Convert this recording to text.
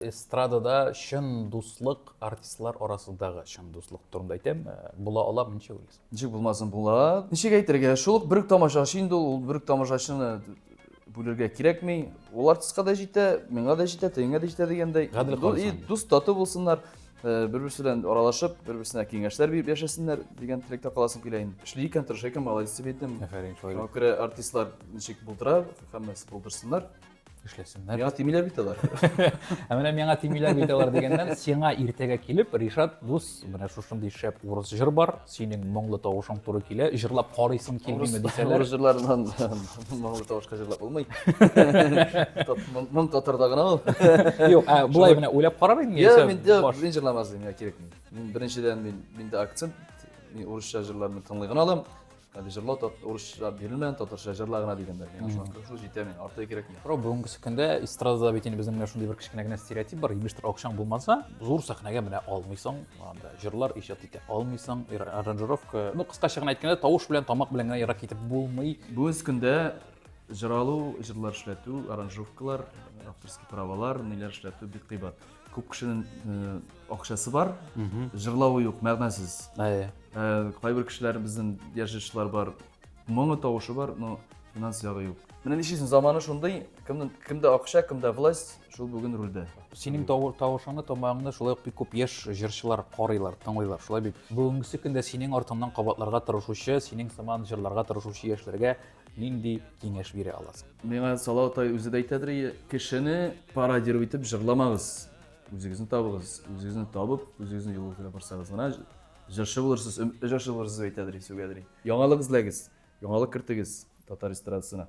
Эстрадада чын дуслык, артистлар арасындагы чын дуслык турында әйтәм, э, була ала ничек уйлыйсың? Ничек булмасын була. Ничек әйтергә? Шул ук бер тамашачы инде ул, ул бер тамашачыны бүлергә кирәкми. Ул артистка да җитә, миңа да җитә, тегеңә дә җитә дигәндәй. Гадел калсын. И дус тату булсыннар, э, бер-берсе белән аралашып, бер-берсенә киңәшләр биреп яшәсеннәр дигән теләктә каласым килә инде. Эшли икән, тырыша икән, молодец дип әйтәм. Афәрин, шулай. Шуңа күрә артистлар ничек булдыра, һәммәсе булдырсыннар. эшләсеннәр. Миңа тимиләр бит алар. Ә менә миңа тимиләр бит алар дигәннән, сиңа иртәгә килеп, Ришат дус, менә шушындый шәп урыс җыр бар, синең моңлы тавышың туры килә, җырлап карыйсың килмиме дисәләр. Урыс җырларыннан моңлы тавышка җырлап булмый. Моң татарда гына ул. Юк, ә булай менә уйлап карар инде. Я, мин дә мин җырламас идем, я кирәкми. Мин беренчедән мин миндә акцент, мин урысча җырларны тыңлый гына алам. Әле җырлау тат, урысча бирелмә, татарча җырла гына дигәннәр. Миңа шуңа кырышу җитә миңа, арты кирәкми. Туграу бүгенге көндә эстрадада бит инде безнең менә шундый бер кечкенә генә стереотип бар, имештер акчаң булмаса, зур сәхнәгә менә алмыйсың, анда җырлар иҗат итә алмыйсың, ир- аранжировка. Ну, кыскача гына әйткәндә, тавыш белән, тамак белән генә ерак китеп булмый. Бүгенге көндә җыр алу, җырлар эшләтү, аранжировкалар, авторский правалар, ниләр эшләтү бик кыйбат. Күп кешенең э, акчасы бар, җырлавы юк, мәгънәсез. Әйе. Э, Кайбер кешеләр безнең яшешләр бар, моңы тавышы бар, но финанс ягы юк. Менә нишлисең, заманы шундый, кемнең кемдә акча, кемдә власть, шул бүген рульдә. Синең тавы- тавышыңны, тамагыңны шулай ук бик күп яшь җырчылар карыйлар, тыңлыйлар. Шулай бит. Бүгенге көндә синең артыңнан кабатларга тырышучы, синең сыман җырларга тырышучы яшьләргә нинди киңәш бирә аласың? Миңа Салау тай үзе дә әйтәдер, кешене пародировать итеп җырламагыз. Үзегезне табыгыз. Үзегезне табып, үзегезне юл үтенә барсагыз гына җырчы булырсыз, җырчы булырсыз әйтәдер, сүгәдер. Яңалык эзләгез, яңалык кертегез татар эстрадасына.